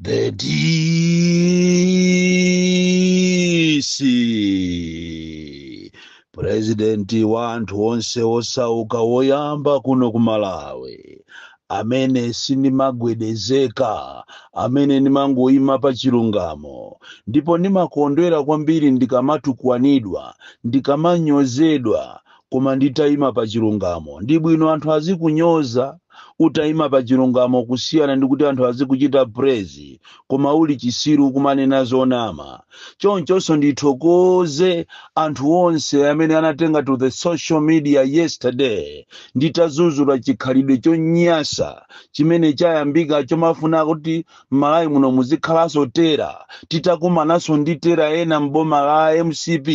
The DC president wa anthu onse osauka woyamba kuno ku malawi amene sindimagwedezeka amene ndimangoyima pa chilungamo ndipo ndimakondwera kwambiri ndikamatukwanidwa ndikamanyozedwa koma nditaima pa chilungamo ndi bwino anthu azikunyoza utaima pa chilungamo kusiyana ndi kuti anthu azikuchita praise koma uli chisiru kumanena zonama chonchonso ndithokoze anthu onse amene anatenga to the social media yesterday nditazuzula chikhalidwe chonyasa chimene chayambika chomafuna kuti m'malawi muno muzikhalanso tera titakumananso ndi tera ena m'boma la mcp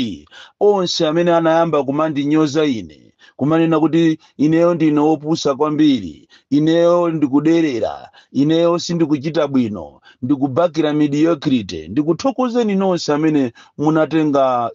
onse amene anayamba kumandinyoza ine kumanena kuti ineyo ndine wopusa kwambiri ineyo ndikuderera ineyo sindikuchita bwino ndikubakira mediocrity ndikuthokozeni nonse amene munatenga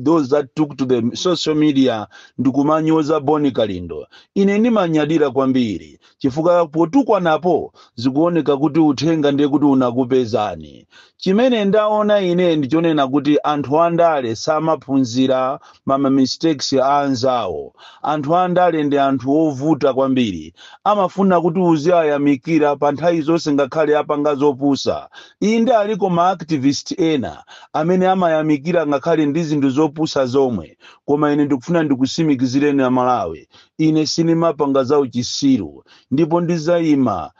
those that took to the social media ndikumanyoza Bon Kalindo ine ndimanyadira kwambiri chifukwa potukwanapo zikuoneka kuti uthenga ndiye kuti unakupezani chimene ndaona ine ndichonena kuti anthu andale samaphunzira mama mistakes a anzawo anthu andale ndi anthu ovuta kwambiri amafuna kuti uziwayamikira pa nthawi zonse ngakhale apanga zopusa inde aliko ma activist ena amene amayamikira ngakhale ndi zinthu zopusa zomwe koma ine ndikufuna ndikutsimikizireni amalawi Ine sindimapanga za uchisiru, ndipo ndidzaima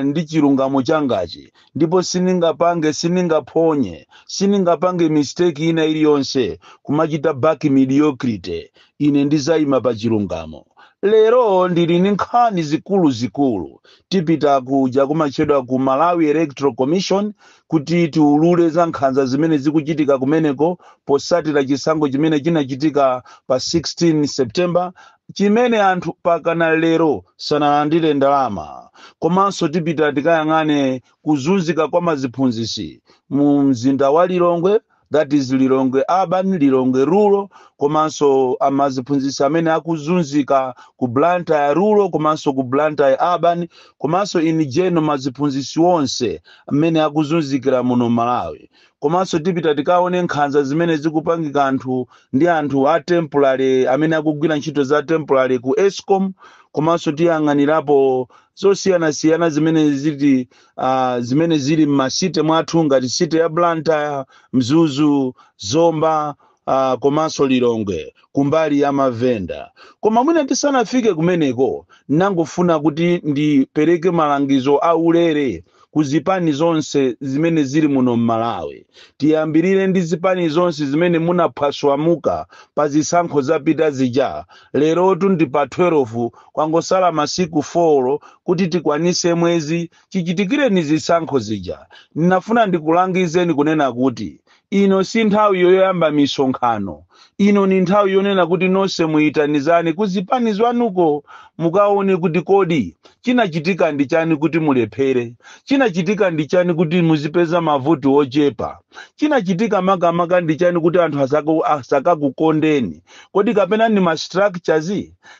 ndi chilungamo changachi, ndipo sindingapange, sindingaphonye, sindingapange mistake ina iliyonse kumachita back mediocrity. Ine ndidzaima pa chilungamo. Lero ndili ndi nkhani zikuluzikulu. Tipita kuja kumatchedwa ku Malawi Electoral Commission, kuti tiulule za nkhanza zimene zikuchitika kumeneko potsatira chisankho chimene chinachitika pa 16 september chimene anthu mpakana lero sanalandire ndalama komanso tipita tikayang'ane kuzunzika kwa maziphunzitsi mu mzinda wa lilongwe that is Lilongwe urban, Lilongwe rural komanso amaziphunzitsi amene akuzunzika ku Blantyre rural komanso ku Blantyre urban komanso in general maziphunzitsi onse amene akuzunzikira muno Malawi komanso tipita tikaone nkhanza zimene zikupangika anthu ndi anthu a temporary amene akugwira ntchito za temporary ku Escom komanso tiyang'anirapo zosiyanasiyana zimene ziti uh, zimene zili m'masite mwathu ngati site ya blantyre mzuzu zomba uh, komanso lilongwe kumbali ya mavenda koma mwina tisanafike kumeneko ndangofuna kuti ndipereke malangizo a ulere ku zipani zonse zimene zili muno m'malawi tiyambirire ndi zipani zonse zimene munaphwaswamuka pa zisankho zapita zija lerotu ndi pa 12 Kwangosala masiku 4 kuti tikwanitse mwezi chichitikireni zisankho zija. Ndinafuna ndikulangizeni kunena kuti ino si nthawi yoyamba misonkhano. Ino ni nthawi yonena kuti nonse muitanizane ku zipani zwanuko mukaone kuti kodi chinachitika ndi chani kuti mulephere, chinachitika ndi chani kuti muzipeza mavoti wochepa, chinachitika makamaka ndi chani kuti anthu asaka- asakakukondeni, kodi kapena ni ma structures?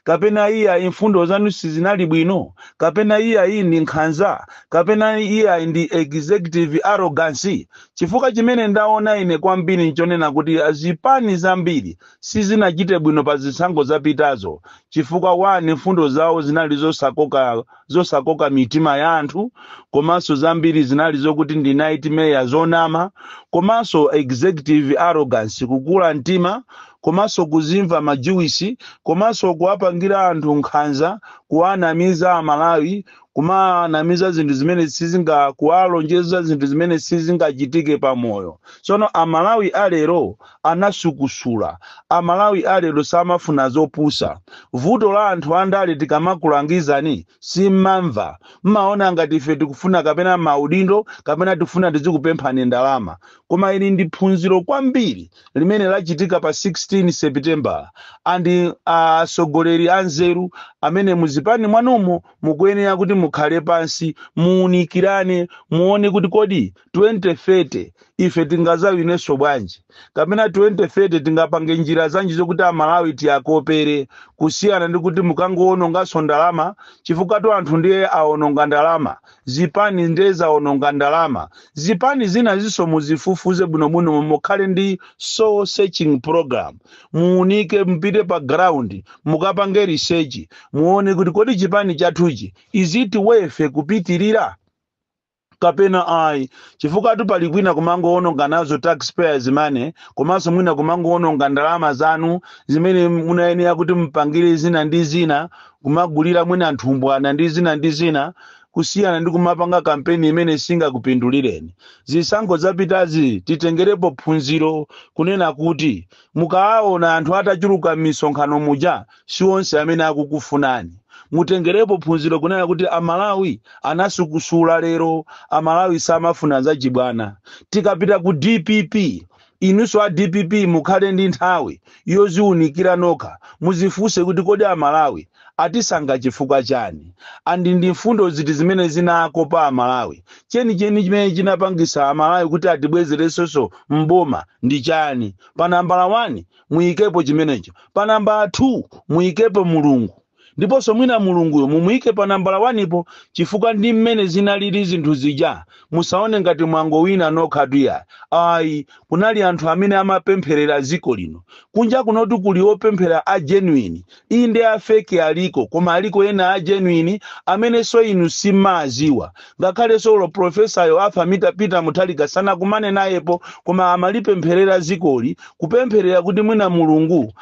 kapena iyayi mfundo zanu sizinali bwino kapena iyayi ndi nkhanza kapena iyayi ndi executive arrogance chifukwa chimene ndaona ine kwambiri nchonena kuti zipani zambiri sizinachite bwino pa zisankho zapitazo chifukwa wani mfundo zawo zinali zosakoka zosakoka mitima ya anthu komanso zambiri zinali zokuti ndi nightmare zonama komanso executive arrogance kukula mtima komanso kuzimva majuwisi komanso kuwapangira anthu nkhanza kuwanamiza amalawi kumanamiza zinthu zimene sizinga kuwalonjeza zinthu zimene sizingachitike pamoyo tsono amalawi alero anatsukusula. Amalawi a lero samafuna zopusa. Vuto la anthu andale tikamakulangizani simmamva. Mmaona ngati ife tikufuna kapena maudindo kapena tikufuna tizikupemphani ndalama. Koma ili ndi phunziro kwambiri limene lachitika pa 16 Sepitembala and atsogoleri anzeru amene muzipani mwanumo mukuyenera kuti mukhale pansi muunikirane muone kuti kodi 2030 ife tingazawinenso bwanji kapena 2030 tingapange njira zanji zokuti amalawi tiyakopere kusiyana ndi kuti mukangowononganso ndalama chifukwatu anthu ndiye awononga ndalama zipani ndiye zawononga ndalama zipani zina zinso muzifufuze bwinobwino mukhale ndi soul searching program muunike mpite pa ground mukapange research muone kuti kodi chipani chathuchi is it worth kupitirira kapena ayi chifukwatu pali kwina kumangowononga nazo taxpayers money komanso mwina kumangowononga ndalama zanu zimene munayenera kuti mupangire zina ndi zina kumagulira mwina nthumbwana ndi zina ndi zina kusiyana ndi kumapanga kampeni imene singakupindulireni zisankho zapitazi titengerepo phunziro kunena kuti mukawaona anthu atachuluka m'misonkhano muja si onse amene akukufunani mutengerepo phunziro kunena kuti amalawi anasukusula lero amalawi samafuna zachibwana tikapita ku dpp inunso a dpp mukhale ndi nthawi yoziwunikira nokha muzifunse kuti kodi amalawi atisankha chifukwa chani andi ndi mfundo ziti zimene zinakopa amalawi chenicheni chimene chinapangisa amalawi kuti atibwezerenso mboma ndi chani pa nambala 1 muyikepo chimenecho pa nambala 2 muyikepo mulungu ndiponso mwina mulunguyo mumuyike pa nambala 1 po chifukwa ndi mmene zinalili zinthu zija musaone ngati mwangowina nokhatu iyayi kunali anthu amene amapempherera dziko lino kunja kunotu kuli opemphera a genuine Inde a fake aliko koma aliko ena a genuine amenenso inu simuwaziwa. Ngakhalenso olo professor yo Arthur Mita Peter Muthalika sanakumane nayepo koma amalipempherera zikoli kupempherera kuti mwina Mulungu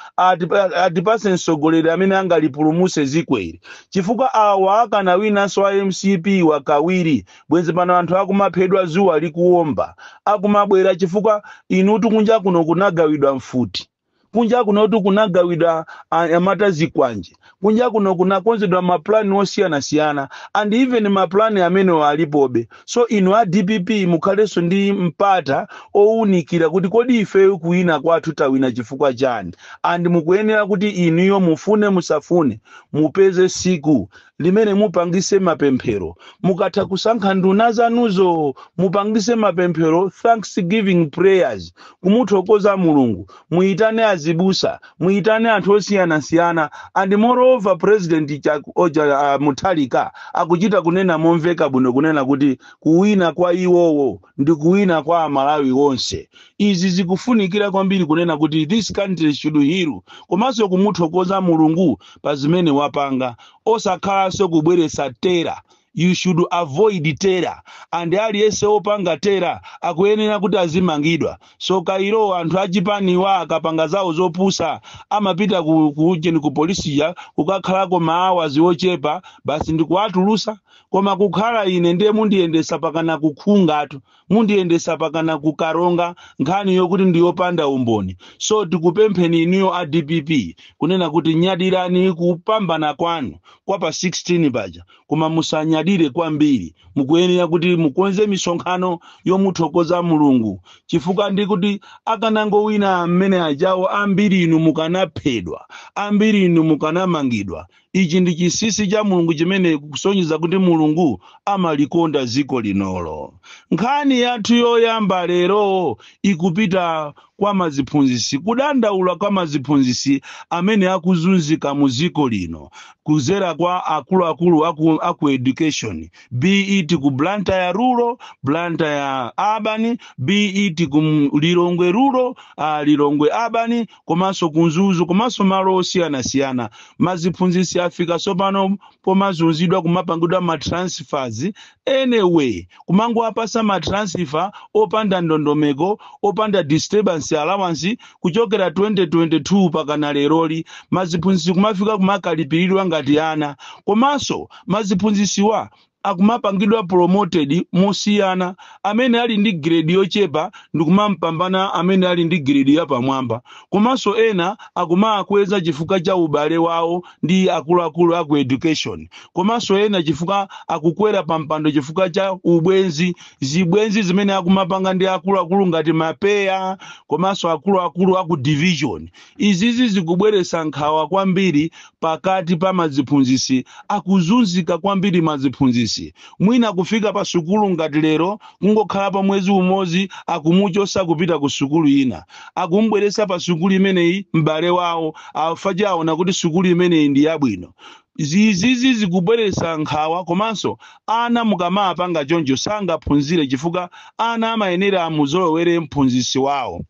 atipase mtsogoleri amene angalipulumuse zikoli chifukwa awa akanawinanso a mcp wa kawiri bwenzi pano anthu akumaphedwa zuwa likuwomba akumabwera chifukwa inutu kunja kuno kunagawidwa mfuti kunja kunotu kunagawidwa anyamata zikwanje kunja kuno kunakonzedwa mapulani osiyanasiyana and even mapulani amenewo alipobe so inu a dpp mukhalenso ndi mpata owunikira kuti kodi ifeyo kuwina kwathu tawina chifukwa chani and mukuyenera kuti inuyo mufune musafune mupeze siku limene mupangise mapemphero mukatha kusankha nduna zanuzo mupangise mapemphero thanksgiving prayers kumuthokoza mulungu muyitane azibusa muyitane anthu osiyanasiyana and moreover president Chak- oja uh, muthalika akuchita kunena momveka bwino kunena kuti kuwina kwa iwowo ndi kuwina kwa amalawi onse izi zikufunikira kwambiri kunena kuti this country should heal komanso kumuthokoza mulungu pa zimene wapanga osakhalanso kubweretsa terror you should avoid terror and aliyense opanga terror akuyenera kuti azimangidwa so kalero anthu achipaniwa akapanga zawo zopusa amapita ku, ku, ku polisi kuja kukakhalako maawazi ochepa basi ndikuwatulusa koma kukhala ine ndiye mundiyendesa pakana ku Kanengo tu mundiyendesa pakana ku Karonga nkhani yokuti ndiyopanda umboni so tikupempheni inuyo a dpp kunena kuti nyadirani kupambana kwanu kwa pa 16 paja koma musanyadire kwambiri mukuyenera kuti mukonze misonkhano yomuthokoza mulungu chifukwa ndi kuti akanangowina mmene ajawo ambiri inu mukanaphedwa ambiri inu mukanamangidwa ichi ndi chinsinsi cha mulungu chimene chikusonyeza kuti mulungu amalikonda dziko linolo nkhani yathu yoyamba lero ikupita kwa maziphunzisi kudandaula kwa maziphunzisi amene akuzunzika mu dziko lino kuzera kwa akuluakulu aku, aku education be it ku blantyre rural blantyre urban be it ku M- lilongwe rural uh, lilongwe urban komanso ku mzuzu komanso malo osiyanasiyana maziphunzitsi afika tsopano pomazunzidwa kumapangidwa ma transfers anyway kumangowapasa ma transfer opanda ndondomeko opanda disturbance allowance kuchokera 2022 pakana leroli maziphunzitsi kumafika kumakalipiridwa ngati ana komanso maziphunzisiwa akumapangidwa promoted mosiyana amene ali ndi grade yochepa ndikumampambana amene ali ndi grade yapamwamba komanso ena akumaakweza chifukwa cha ubale wawo ndi akuluakulu aku education komanso ena chifukwa akukwera pampando chifukwa cha ubwenzi zibwenzi zimene akumapanga ndi akuluakulu ngati mapeya komanso akuluakulu aku division Izizi zikubweretsa nkhawa kwambiri pakati pa maziphunzitsi akuzunzika kwambiri maziphunzitsi mwina kufika pa sukulu ngati lero kungokhalapo mwezi umodzi akumuchotsa kupita ku sukulu ina akumubweretsa pa sukulu imeneyi m'bale wawo after aona kuti sukulu imeneyi ndi yabwino izizi zikubweretsa nkhawa komanso ana mukamapanga choncho sangaphunzire chifukwa ana amayenera amuzolowere mphunzitsi wawo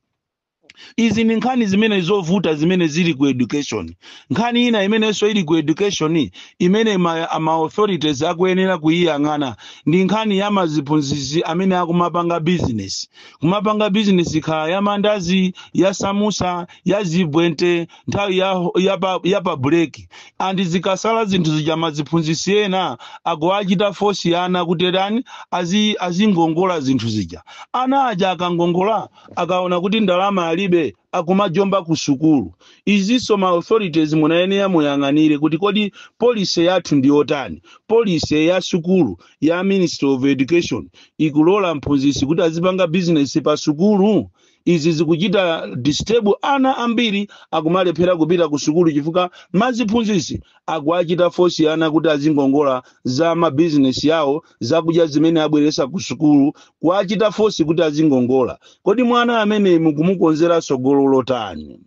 izi ndi nkhani zimene zovuta zimene zili ku education nkhani ina imenenso ili ku education imene ma, ma authorities akuyenera kuyiyang'ana ndi nkhani ya maziphunzitsi amene akumapanga business kumapanga business ikhala ya mandazi ya samusa ya zibwente nthawi ya, ya, pa, ya pa break and zikasala zinthu zija maziphunzitsi ena akuwachita fosi ana kuti tani azi- azingongola zinthu zija ana aja akangongola akaona kuti ndalama alibe akumajomba ku sukulu izinso ma authorities munayenera muyang'anire kuti kodi policy yathu ndi yotani policy ya sukulu ya ministry of education ikulola mphunzitsi kuti azipanga business pa sukulu izi zikuchita disturb ana ambiri akumalephera kupita ku sukulu chifukwa maziphunzitsi akuwachita fosi ana kuti azingongola za mabizinesi yawo zakudya zimene abweresa ku sukulu kuwachita fosi kuti azingongola kodi mwana ameneyo mukumukonzera tsogolo lotani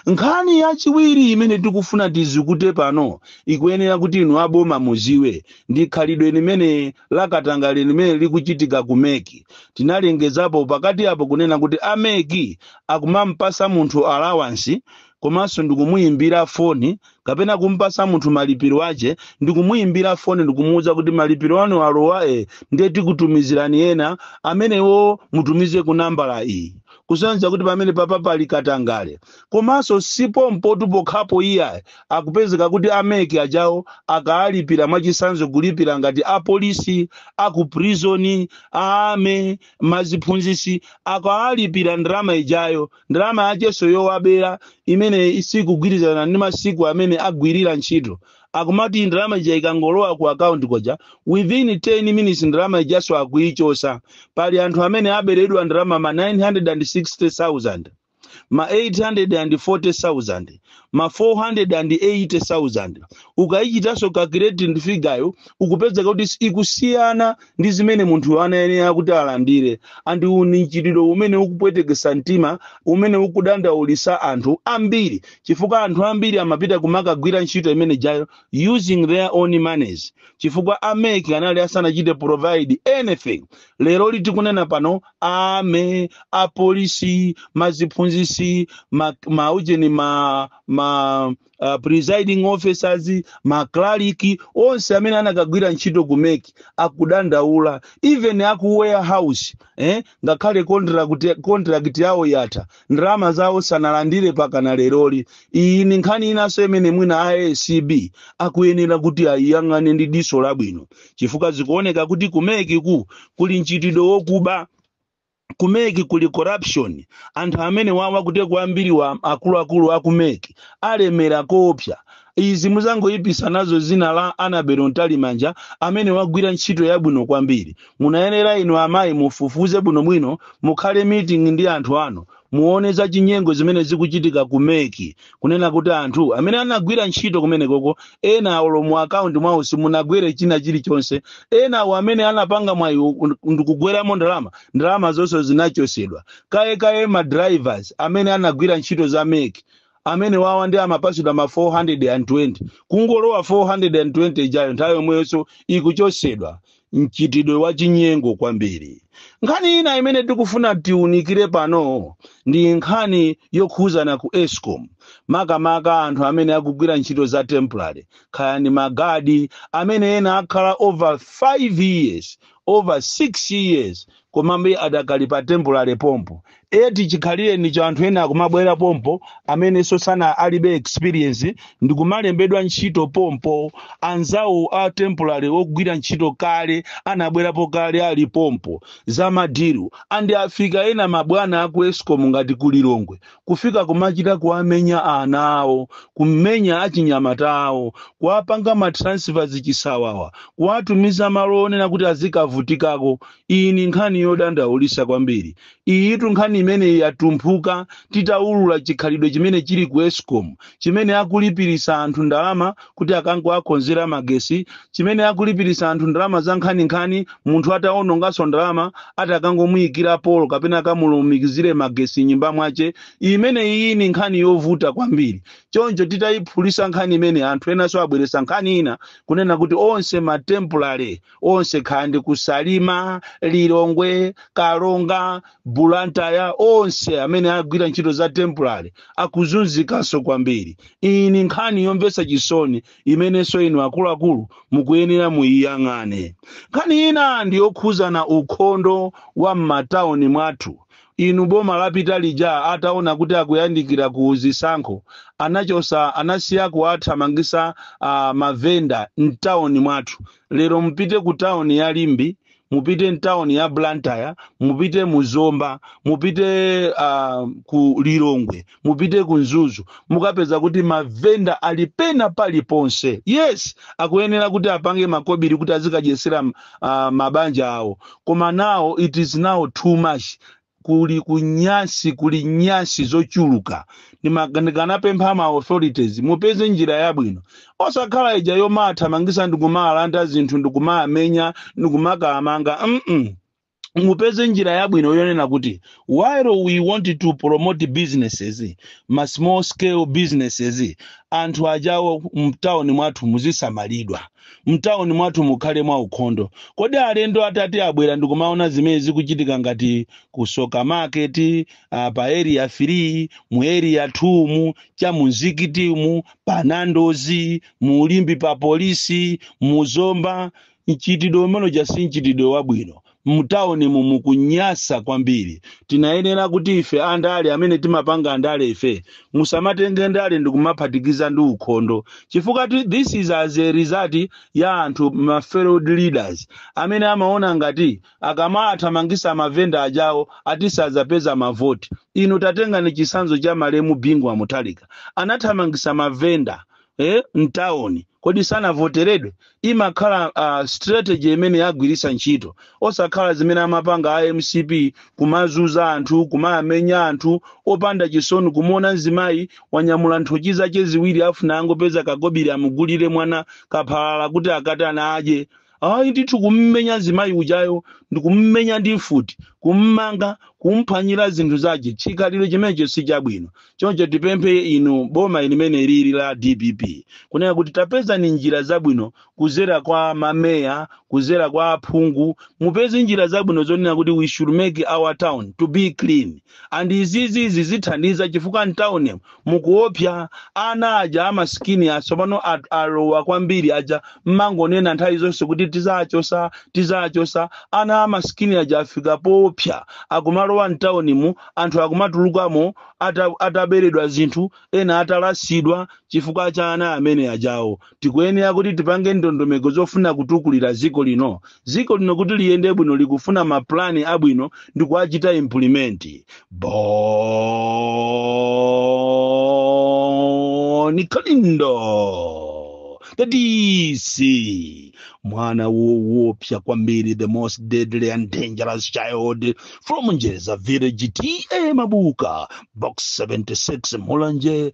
nkhani yachiwiri imene tikufuna tizikute pano ikuyenera kuti inu aboma muziwe ndi khalidwe limene lakatangale limene likuchitika ku meki tinalengezapo pakati apo kunena kuti ameki akumampasa munthu alawansi komanso ndikumuyimbira foni kapena kumpasa munthu malipiro ache ndi kumuimbira foni ndi kumuuza kuti malipiro anu alowa e ndiye tikutumizirani ena amenewo mutumize ku nambala iyi kusonyeza kuti pamene papa pali katangale komanso si pompotu pokhapo iyayi akupezeka kuti a MEC ajawo akaalipira mwachisanzo kulipira ngati apolisi akuprizoni a army maziphunzisi akaalipira ndalama ijayo ndalama yachenso yowabera imene isikugwirizana ndi masiku amene agwirira ntchito akumati ndalama ija ikangolowa ku akaunti koja within 10 minutes ndalama ijanso akuichosa pali anthu amene aberedwa ndalama ma 960000 ma 840000 ma 480,000 ukayichitanso calculate ndi figure yo ukupezeka kuti si- ikusiyana ndi zimene munthu anayenera kuti alandire and uwu ndi mchitidwe umene ukupwetekesa mtima umene ukudandaulisa anthu ambiri chifukwa anthu ambiri amapita kumakagwira ntchito imene jayo using their own monies chifukwa a MEC anali asanachite provide anything lero lili tikunena pano a army apolisi maziphunzisi ma, ma ujeni ma, ma uh, presiding officers maklaliki onse amene anakagwira ntchito ku MEC akudandaula even aku warehouse eh, ngakhale contract contract yawo yatha ndalama zawo sanalandire pakana leroli iyi ndi nkhani inanso imene mwina a acb akuyenera kuti ayiyang'ane ndi diso labwino chifukwa zikuoneka kuti ku MECku kuli mchitidwe wokuba ku MEC kuli corruption anthu amene wawa kuti ku ambiriwa akuluakulu aku MEC alemera koopsa izi muzangoyipisa nazo dzina la Annabel mtalimanja amene wagwira ntchito yabwino kwambiri munayenera inu amayi mufufuze bwinobwino mukhale meeting ndi anthu anu muone za chinyengo zimene zikuchitika ku MEC kunena kuti anthu amene anagwira ntchito kumenekoko ena olo mu akaunti mwawo simunagwere china chilichonse enawo amene anapanga mwayi u- ndikugweramo ndalama ndalama zonse zinachotsedwa kalekale ma drivers amene anagwira ntchito za MEC amene wawa and amapatsidwa ma 420 kungolowa 420 ijayo nthawi yomweyonso ikuchotsedwa mchitidwe wa chinyengo kwambiri nkhani ina imene tikufuna tiunikire pano ndi nkhani yokhuzana ku escom makamaka anthu amene akugwira ntchito za temporary kaya ndi magadi amene ena akhala over 5 years over 6 years komabe adakali pa temporary pompo eti chikhalireni cha anthu ena akumabwera pompo amenenso sana alibe experience ndikumalembedwa ntchito pompo anzawo a temporary ogwira ntchito kale anabwerapo kale ali pompo za madiru and afika ena mabwana aku escom ngati ku lilongwe kufika kumachita kuwamenya ana awo kumenya achinyamata awo kuwapanga ma transfers chisawawa kuwatumiza malo onena kuti azikavutikako iyi ni nkhani yodandaulisa kwambiri iyitu nkhani imene yatumphuka titaulula chikhalidwe chimene chili ku escom chimene akulipirisa anthu ndalama kuti akangowakonzera magesi chimene akulipirisa anthu ndalama za nkhaninkhani munthu atawononganso ndalama atakangomuyikira polo kapena akamulumikizire magesi mnyumba mwache imene iyi ni nkhani yovuta kwambiri choncho titayiphulisa nkhani imene anthu enanso abweresa nkhani ina kunena kuti onse matempulale onse kaya ndi ku salima lilongwe karonga bulantaya onse amene agwira ntchito za temporary akuzunzikanso kwambiri iyi ni nkhani yomvetsa chisoni imenenso inu akuluakulu mukuyenera muyiyang'ane nkhani ina ndi yokhuzana ukhondo wa m'matauni mwathu inu boma lapita lija ataona kuti akuyandikira ku zisankho anachosa anasiya kuwathamangisa uh, mavenda mtauni mwathu lero mupite ku tawuni ya limbi mupite mtawuni ya blantyre mupite mu zomba mupite uh, ku lilongwe mupite ku mzuzu mukapeza kuti mavenda ali pena paliponse yes akuyenera kuti apange makobiri kuti azikadyesera uh, mabanja awo koma now it is now too much kuli kunyansi kuli nyansi zochuluka Ndimag- ndikanapempha ma authorities mupeze njira yabwino osakhala ija yomawathamangisa ndikumawalanda zinthu ndikumawamenya ndikumakawamanga mm mupeze njira yabwino yonena kuti while we want to promote businesses ma small scale businesses anthu ajawo mtauni mwathu muzisamalidwa mtauni mwathu mukhale mwaukhondo kodi alendo atati abwere ndikumaona zimene zikuchitika ngati ku tsoka market uh, pa area 3 mu area 2 mu cha mu mzikiti mu pa nando's mu limbi pa polisi mu zomba mchitidwe umeneja si mchitidwe wabwino mtaunimu mukunyasa kwambiri tinayenera kuti ife andale amene timapanga andale ife musamatenge ndale ndikumaphatikiza ndi ukhondo chifukwa ti- this is as a result ya anthu ma failed leaders amene amaona ngati akamawathamangisa mavenda ajawo ati sazapeza mavoti inu tatengani chisanzo cha malemu bingu wa mutharika anathamangisa mavenda eh, mtawuni kodi sanavoteredwe imakhala uh, strategy imene agwiritsa ntchito osakhala zimene amapanga a mcp kumazunza anthu kumawamenya anthu opanda chisoni kumuona mzimayi wanyamula nthochi zake ziwiri afuna angopeza kakobiri amugulire mwana kaphalala kuti akatana adye ayi ndithu kummenya zimayi ujayo ndikummenya ndi futi kummanga kumphwanyira zinthu zache chikhalidwe chimenecho si chabwino choncho tipemphe inu boma limene lili la dpp kunena kuti tapezani njira zabwino kuzera kwa mameya kuzera kwa aphungu mupeze njira zabwino zonena kuti we should make our town to be clean and izizi zithandiza chifukwa mtown mu mukuopsa ana aja amasikini asopano at- alowa kwambiri aja mmangonena nthawi zonse kuti tizachosa tizachosa ana amasikini aja afika poopsa akumalowa mtown mu anthu akumatulukamo ata- ataberedwa zinthu ena atalasidwa chifukwa cha ana amene ajawo tikuyenera kuti tipange ndondomeko zofuna kutukulira dziko lino dziko lino kuti liyende bwino likufuna mapulani abwino ndi kuwachita implement bon kalindo the dc mwana woopsa kwambiri the most deadly and dangerous child from njeza village ta mabuka box 76 mulanje